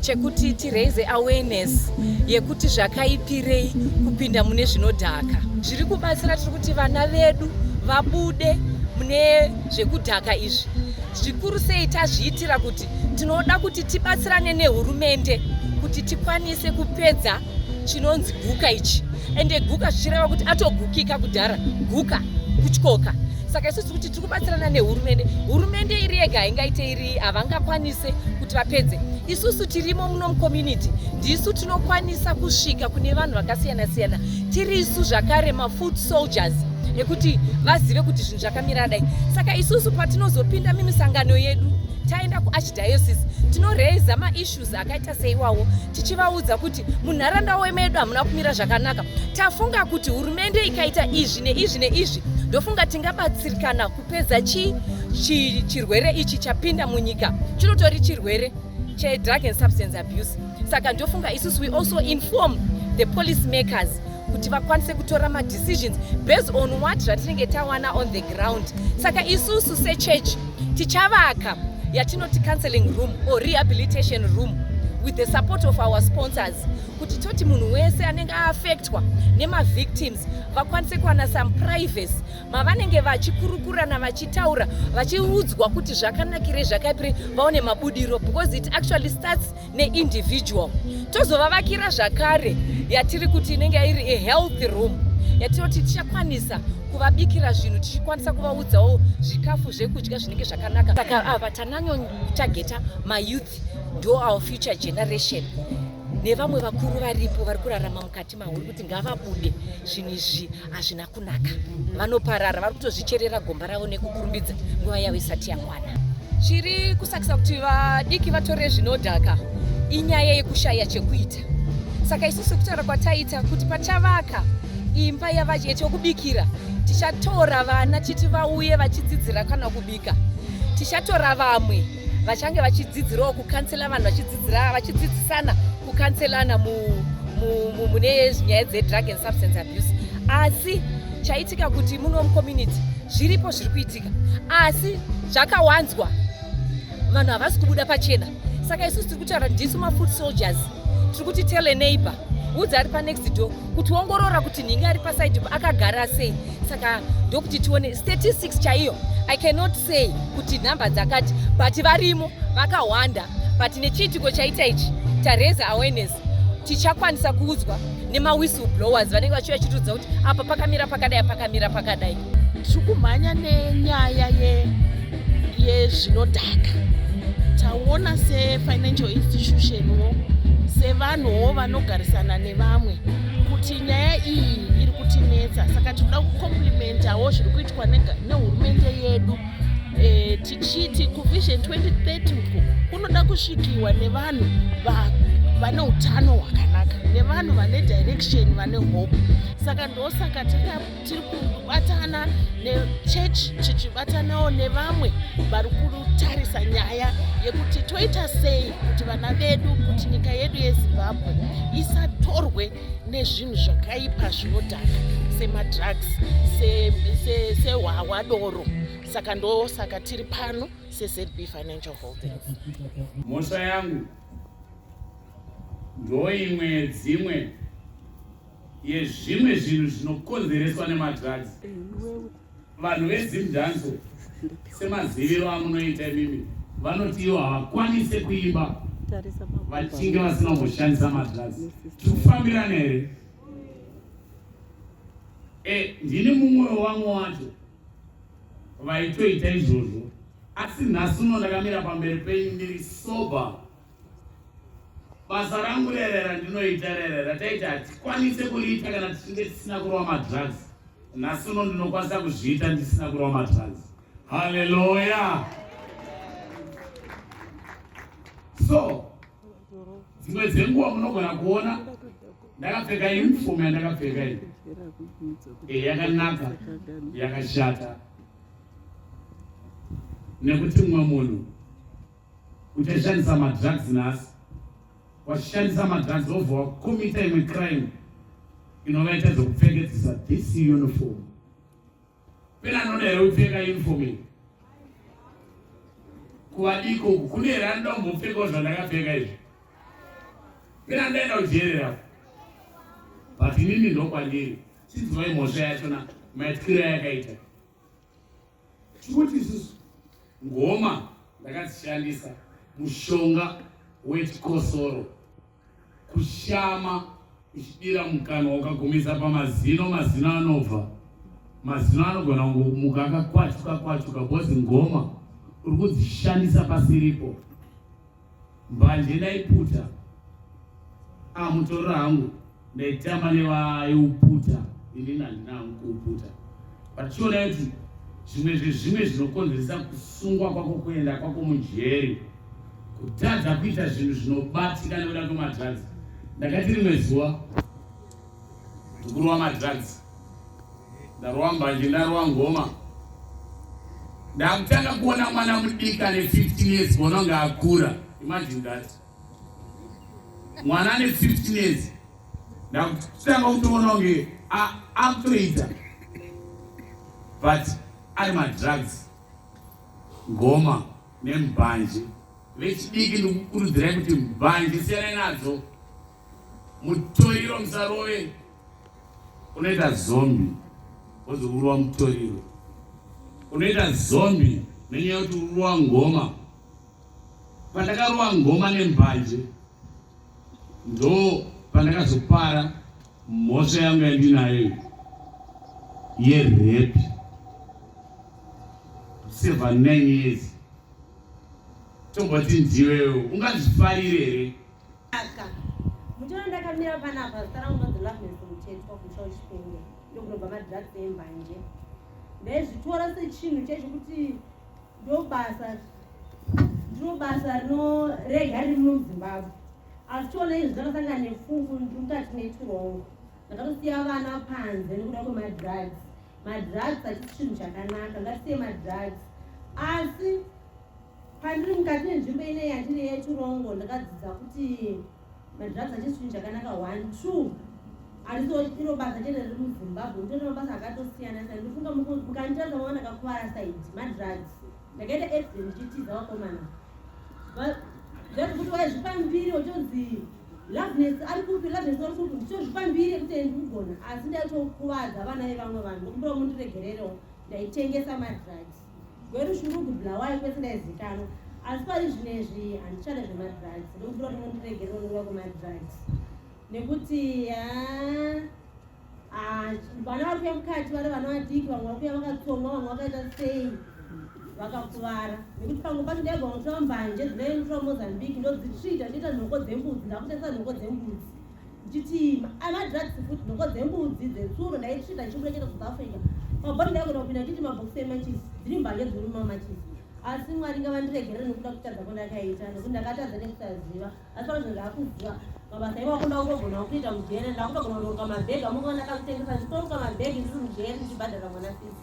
chekuti tiraise awareness yekuti zvakaipirei kupinda mune zvinodhaka zviri kubatsira tiri kuti vana vedu vabude mune zvekudhaka izvi zvikuru sei tazviitira kuti tinoda kuti tibatsirane nehurumende kuti tikwanise kupedza chinonzi guka ichi ende guka zvichireva kuti atogukika kudhara guka kutyoka saka isusu kuti tiri kubatsirana nehurumende hurumende iri yega haingaite iri havangakwanise vapedze isusu tirimo muno mucommunity ndisu tinokwanisa kusvika kune vanhu vakasiyana siyana tiri isu zvakare mafood soldiers ekuti vazive kuti zvinhu zvakamira dai saka isusu patinozopinda mimisangano yedu taenda kuarchdiocese tinoraiza maissues akaita seiwawo tichivaudza kuti munharaunda wemedu hamuna kumira zvakanaka tafunga kuti hurumende ikaita izvi neizvi neizvi ndofunga tingabatsirikana kupedza chi, chi, chirwere ichi chapinda munyika chinotori chirwere chedrug and substance abuse saka ndofunga isusu we also inform the police makers kuti vakwanise kutora madecisions based on what zvatinenge tawana on the ground saka isusu sechurch tichavaka yatinoti counseling room or rehabilitation room with the support of our sponsors kuti toti munhu wese anenge aaffectwa nemavictims vakwanise kuwana some privacy mavanenge vachikurukurana vachitaura vachiudzwa kuti zvakanakirei zvakaipirei vaone mabudiro because it actually starts neindividual tozovavakira zvakare yatiri kuti inenge iri a healthy room yatinoti tichakwanisa kuvabikira zvinhu tichikwanisa kuvaudzawo zvikafu zvekudya zvinenge zvakanaka saka ava tananyotageta mayouth ndo our future generation nevamwe vakuru varipo vari kurarama mukati mahuri kuti ngavabude zvinhu izvi hazvina kunaka vanoparara vari kutozvicherera gomba ravo nekukurumbidza nguva yavo isati yakwana chiri kusakisa kuti vadiki vatore zvinodhaka inyaya yekushaya chekuita saka isu sekutaura kwataita kuti pachavaka imba yekubikira tichatora vana chiti vauye vachidzidzira kana kubika tichatora vamwe vachange vachidzidzirawo kukansela vanhu vachidzidzira vachidzidzisana kukanselana mune nyaya dzedrug and substance abuse asi chaitika kuti muno mucommunity zviripo zviri kuitika asi zvakawanzwa vanhu havasi kubuda pachena saka isusu tiri kutaura ndisu mafoot soldiers tiri kuti tell a neighbor udza ari panext door kutiongorora kuti nhingi ari pasaidi akagara sei saka ndokuti tione statistics chaiyo i cannot say kuti nhamba dzakati but varimo vakawanda but nechiitiko chaita ichi tareza awareness tichakwanisa kuudzwa nemawhistle blowers vanenge vachiuya chitiudza kuti apa pakamira pakadai pakamira pakadai tiri kumhanya nenyaya yezvinodhaka taona sefinancial institutionwo sevanhuwo vanogarisana nevamwe kuti nyaya iyi iri kutinetsa saka tinoda kucomplimentawo zviri kuitwa nehurumende yedu e, tichiti kuvision 2030 uku kunoda kusvikiwa nevanhu vane utano hwakanaka nevanhu vane direction vane hope saka ndosaka taka tiri kubatana nechechi tichibatanawo nevamwe vari kutarisa nyaya yekuti toita sei kuti vana vedu kuti nyika yedu yezimbabwe isatorwe nezvinhu zvakaipa zvinodhaka semadrugs sehwahwa se, se doro saka ndo saka tiri pano sezb financial holdings mhosva yangu ndoimwe dzimwe yezvimwe zvinhu zvinokonzereswa nemadrugs vanhu vedzimdanzo semaziviro amunoita imimi vanoti ivo havakwanise kuimba vachinge vasina kumboshandisa madrugs tikufambirana here e ndini mumwe wevamwe wacho vaitoita izvozvo asi nhasi uno ndakamira pamberi penyu ndiri sober basa rangu rerera ndinoita rerera taiti hatikwanise kuriita kana tichinge tisina kurova madrugs nhasi uno ndinokwanisa kuzviita ndisina kurova madrugs haleluya so dzimwe dzenguva munogona kuona ndakapfeka uniform yandakapfeka iyi eh, yakanaka yakashata nekuti mumwe munhu uchashandisa madrugs nhasi washandisa madrugs obva wakomita imwe crime inova ita zvekupfekedzisa this uniform pena anoda here kupfeka uniform iyi kuvadiko uku kune here anoda kumbopfekawo zvandakapfeka izvi pena ndaenda kujerera but inini ndokwandiri chinzwai mhosva yachona maityira yakaita tikuti isusu ngoma ndakadzishandisa mushonga wechikosoro kushama uchidira mukanwa ukagumisa pamazino mazino anobva mazino anogona kumuka akakwatuka kwatuka bhozi ngoma uri kudzishandisa pasiripo mbanje ndaiputa amutorora ah, hangu ndaitamba nevaiuputa ini nandina hangu kuuputa but chiona kuti zvimwe zvezvimwe zvinokonzeresa kusungwa kwako kuenda kwako mujeri kutadza kuita zvinhu zvinobatika nekuda kwemadrugs ndakati rimwe zuva ndikurova madrugs Ndarowa mbanje, ndarowa ngoma. Ndakutanga kuona mwana mudiki ane 15 years vononge akura. Imagine that. Mwana ane 15 years. Ndakutanga kutoona kunge akutoita. But ari madrugs, ngoma nembanje. Vechidiki ndikukurudzirai kuti mbanje siyanai nadzo. Mutoriro musarove unoita zombi wozourwa mutoriro unoita zombi nenyaya yokuti uruwa ngoma pandakaruwa ngoma nembanje ndo pandakazopara mhosva yangu yandinayo yerepi seven nine years tomboti ndiwewo ungazvifarire here Aka. Muchona ndakamira panapa zita rangu nonzi Loveness Muthetwa kumusha wechipenge ndokunobva madrugs embanje. Ndaizvitora sechinhu chaicho kuti ndobasa ndiro basa rinorega riri muzimbabwe asi chiona izvi zvakasangana nefungu ndiri mukati metirongo ndakatosiya vana panze nekuda kwemadrugs madrugs hachisi chinhu chakanaka ngatisiye madrugs asi Pandiri mukati menzvimbo ine yandiri yechirongo ndakadzidza kuti madrugs achisi chinhu chakanaka one two handisi iro basa chete riri muzimbabwe nditori mabasa akatosiyana sa ndifunga mukandiratsa mava ndakakuvara saidi madrugs ndakaita accident ndichitiza vakomana zvazi kuti waizvipa mbiri uchonzi loveness ari kupi loveness ari kupi ndichozvipa mbiri yekuti ndikugona asi ndaitokuvadza vana vevamwe vanhu ndokumbira mundiregererewo ndaitengesa madrugs gwerushungugu bulawayo kwese ndaizikanwa asi pari zvino izvi handichada zvemadrugs ndokubura kuti mundiregere unova kumadrugs nekuti vana vari kuya mukati vari vana vadiki vamwe vari kuya vakatsongwa vamwe vakaita sei vakakuvara nekuti pamwe pacho ndaigwa kutora mbanje dzinoenditora mozambique ndodzitsvita ndoita nhoko dzembudzi ndakutesa nhoko dzembudzi Chitima, ana drugs food noko dzembudzi dzetsuro ndaitsvita chibuda chete South Africa. Mabhoni ndakona kupinda chiti mabox emachisi dziri mbanje dziri mumamachisi. Asi Mwari ngavandiregerere nokuda kutadza kwandakaita nokuti ndakatadza nekusaziva. Asi pano zvinhu ndakuziva mabasa iwako ndakutogona kuita mujere ndakutogona kunoruka mabhegi amwe ndakakutengesa nditoruka mabhegi ndiri mujere ndichibhadhara mwana sisi.